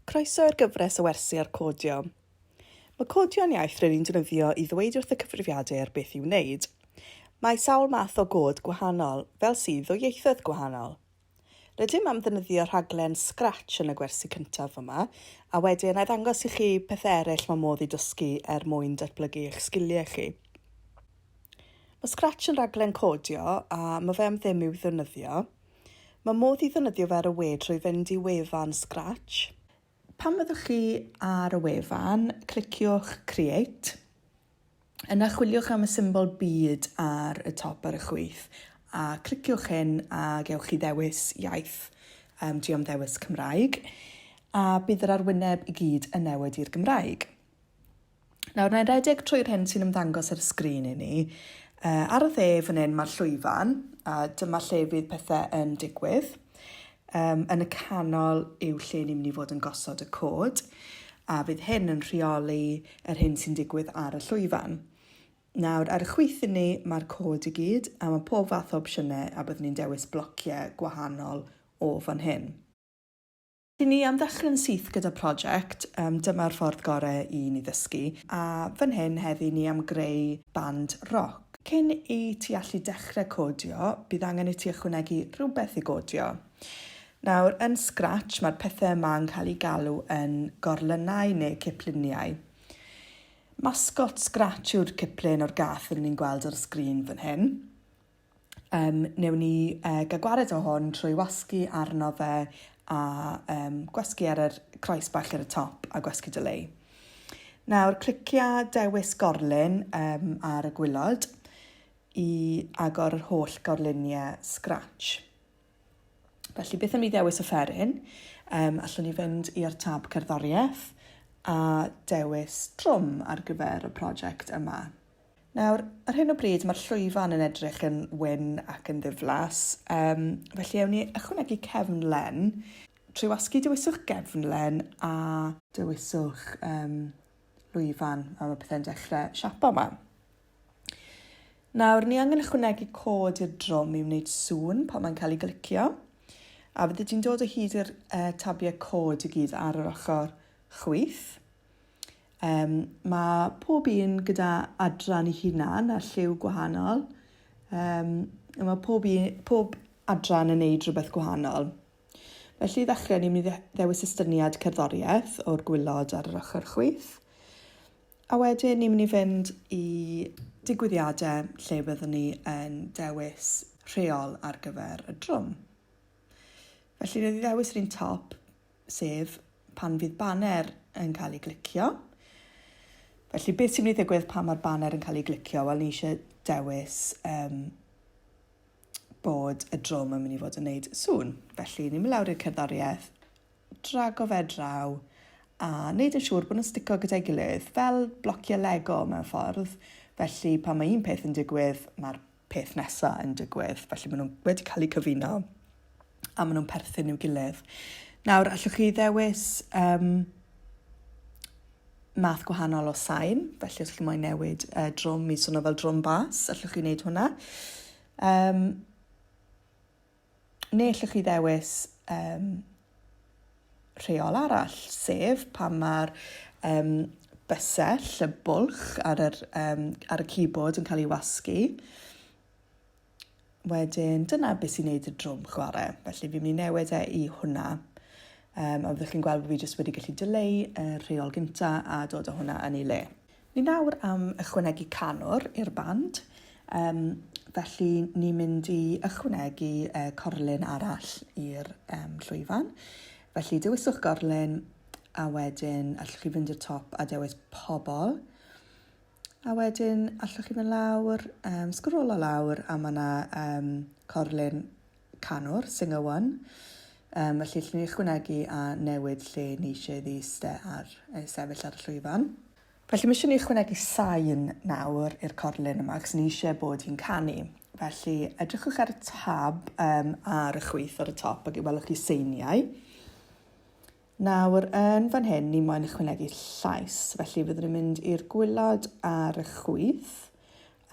Croeso i'r gyfres o wersi ar codio. Mae codio'n iaith rydyn ni'n defnyddio i ddweud wrth y cyfrifiadur beth i'w wneud. Mae sawl math o god gwahanol, fel sydd o ieithoedd gwahanol. Rydym am ddefnyddio rhaglen Scratch yn y gwersi cyntaf yma, a wedyn a i ddangos i chi pethau eraill mae modd i dysgu er mwyn datblygu eich sgiliau chi. Mae Scratch yn rhaglen codio a mae fe am ddim i'w ddefnyddio. Mae modd i ddefnyddio fe ar y we trwy fynd i wefan Scratch. Pan fyddwch chi ar y wefan, cliciwch Create. Yna chwiliwch am y symbol byd ar y top ar y chwith a cliciwch hyn a gewch chi ddewis iaith. Um, dwi am ddewis Cymraeg a bydd yr arwyneb i gyd yn newid i'r Gymraeg. Nawr, na i redeg trwy'r hyn sy'n ymddangos ar y sgrin i ni. Uh, ar y dde fan hyn mae'r llwyfan, a dyma lle fydd pethau yn digwydd. Yym, yn y canol yw lle ni'n mynd i fod yn gosod y cod, a fydd hyn yn rheoli yr hyn sy'n digwydd ar y llwyfan. Nawr, ar y chwith i ni, mae'r cod i gyd, a mae pob fath o opsiynau, a byddwn ni'n dewis blociau gwahanol o fan hyn. I ni am ddechrau'n syth gyda project, um, dyma'r ffordd gorau i ni ddysgu, a fan hyn heddi ni am greu band roc. Cyn i ti allu dechrau codio, bydd angen i ti ychwanegu rhywbeth i godio. Nawr, yn Scratch, mae'r pethau yma yn cael eu galw yn gorlynnau neu cipluniau. Masgot Scratch yw'r ciplun o'r gath rydyn ni'n gweld ar y sgrin fan hyn. Um, newn ni uh, gael gwared o hwn trwy wasgu arno fe a um, gwasgu ar yr croes bach ar y top a gwasgu delay. Nawr, clicia dewis gorlun um, ar y gwylod i agor yr holl gorluniau Scratch. Felly, beth am ni ddewis offeryn? Um, allwn ni fynd i'r tab cerddoriaeth a dewis trwm ar gyfer y prosiect yma. Nawr, ar hyn o bryd mae'r llwyfan yn edrych yn wyn ac yn ddiflas, um, felly ewn ni ychwanegu cefnlen. Trwy wasgu dewiswch gefnlen a dewiswch um, lwyfan a mae pethau'n dechrau siapo yma. Nawr, ni angen ychwanegu cod i'r drwm i wneud sŵn pan mae'n cael ei glicio, a fyddi di'n dod o hyd i'r uh, tabiau cod i gyd ar yr ochr chwyth. Yym, mae pob un gyda adran ei hunan a lliw gwahanol. Yym, mae pob, un, pob adran yn neud rhywbeth gwahanol. Felly i ddechrau, ni'n mynd i ddewis estyniad cerddoriaeth o'r gwylod ar yr ochr chwith. A wedyn ni'n mynd i fynd i digwyddiadau lle byddwn ni yn dewis rheol ar gyfer y drwm. Felly roedd i ddewis yr un top, sef pan fydd baner yn cael ei glicio. Felly beth sy'n mynd i ddigwydd pan mae'r baner yn cael ei glicio? Wel, ni eisiau dewis um, bod y drwm yn mynd i fod yn gwneud sŵn. Felly, ni'n mynd lawr i'r cerddoriaeth, drago fe draw, a wneud yn siŵr bod nhw'n stico gyda'i gilydd, fel blociau Lego mewn ffordd. Felly, pan mae un peth yn digwydd, mae'r peth nesaf yn digwydd. Felly maen nhw wedi cael eu cyfuno a maen nhw'n perthyn i'w gilydd. Nawr, allwch chi ddewis um, math gwahanol o sain, felly os chi moyn newid uh, drwm i swnio fel drwm bas, allwch chi wneud hwnna. Um, Neu allwch chi ddewis um, rheol arall, sef pan mae'r um, bysell, y bwlch ar, yr, um, ar y keyboard yn cael ei wasgu. Wedyn, dyna beth sy'n neud y drwm chwarae. Felly, fi'n mynd i newid e i hwnna. Um, a fyddwch chi'n gweld bod fi jyst wedi gallu dileu y rheol gynta a dod o hwnna yn ei le. Ni nawr am ychwanegu canwr i'r band, um, felly ni'n mynd i ychwanegu uh, corlun arall i'r um, llwyfan. Felly dewiswch gorlun a wedyn allwch chi fynd i'r top a dewis pobl. A wedyn allwch chi fynd lawr, um, sgrolo lawr a mae yna um, corlun canwr, singer one, um, felly llwn ni ychwanegu a newid lle ni eisiau iddi iste ar, ei sefyll ar y llwyfan. Felly mae eisiau ni ychwanegu sain nawr i'r corlun yma, cos ni eisiau bod hi'n canu. Felly edrychwch ar y tab um, ar y chwyth ar y top ac welwch chi seiniau. Nawr, yn fan hyn, ni moyn ychwanegu llais, felly fyddwn ni'n mynd i'r gwylod ar y chwyth,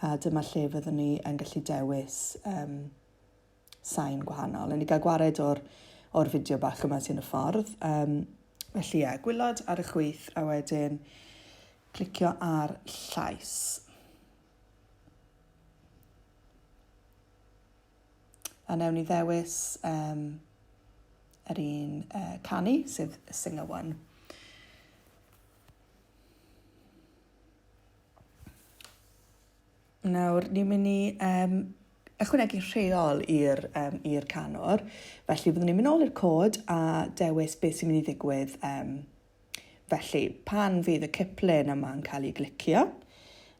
a dyma lle fyddwn ni yn gallu dewis um, sain gwahanol. Yn i gael gwared o'r, or fideo bach yma sy'n y ffordd. Um, felly ie, yeah, gwylod ar y chwyth a wedyn clicio ar llais. A newn ni ddewis um, yr un uh, canu, sef y singer one. Nawr, ni'n mynd i um, ychwanegu rheol i'r um, i'r canwr. Felly, byddwn ni'n mynd ôl i'r cod a dewis beth sy'n mynd i ddigwydd. Um, felly, pan fydd y cyplun yma'n cael ei glicio,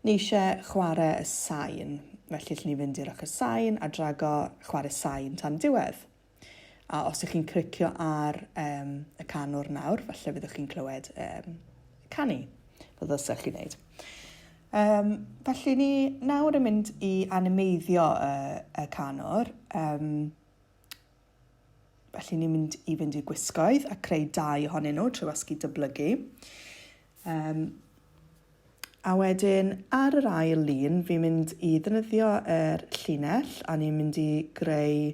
ni eisiau chwarae y sain. Felly, lle ni fynd i'r ochr sain a drago chwarae sain tan diwedd. A os ych chi'n clicio ar um, y canwr nawr, falle byddwch chi'n clywed um, canu, fel ddylsech chi'n neud. Um, felly ni nawr yn mynd i animeiddio y, y canwr. Um, felly ni'n mynd i fynd i gwisgoedd a creu dau ohonyn nhw trwy wasgu dyblygu. Um, A wedyn ar yr ail lun, fi'n mynd i ddefnyddio yr llinell a ni'n mynd i greu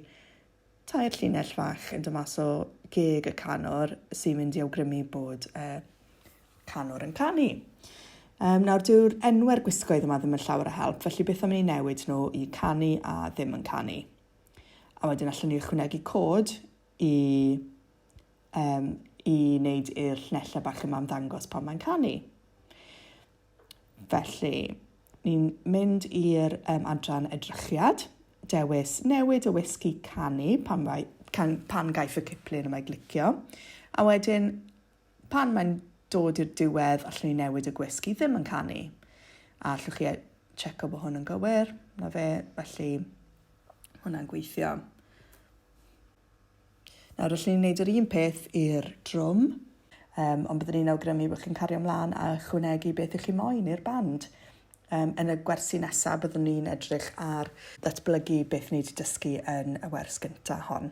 tair llinell fach yn dymas o geg y canwr sy'n mynd i awgrymu bod y canwr yn canu. Um, nawr, dyw'r enwau'r gwisgoedd yma ddim yn llawer o help, felly beth am i ni newid nhw i canu a ddim yn canu? A wedyn allwn ni ychwanegu cod i um, i wneud i'r llenellau bach yma ymddangos pan mae'n canu. Felly, ni'n mynd i'r um, adran edrychiad, dewis newid y wisgi canu pan, mae, can, pan gaiff y ciplun yma glicio, a wedyn Pan mae'n dod i'r diwedd, allwn ni newid y gwisg i ddim yn canu. A allwch chi checo bod hwn yn gywir, na fe, felly hwnna'n gweithio. Nawr, allwn ni wneud yr un peth i'r drwm, um, ond byddwn ni'n awgrymu bod chi'n cario ymlaen a chwnegu beth ych chi moyn i'r band. Yym, yn y gwersi nesaf, byddwn ni'n edrych ar ddatblygu beth ni wedi dysgu yn y wers gyntaf hon.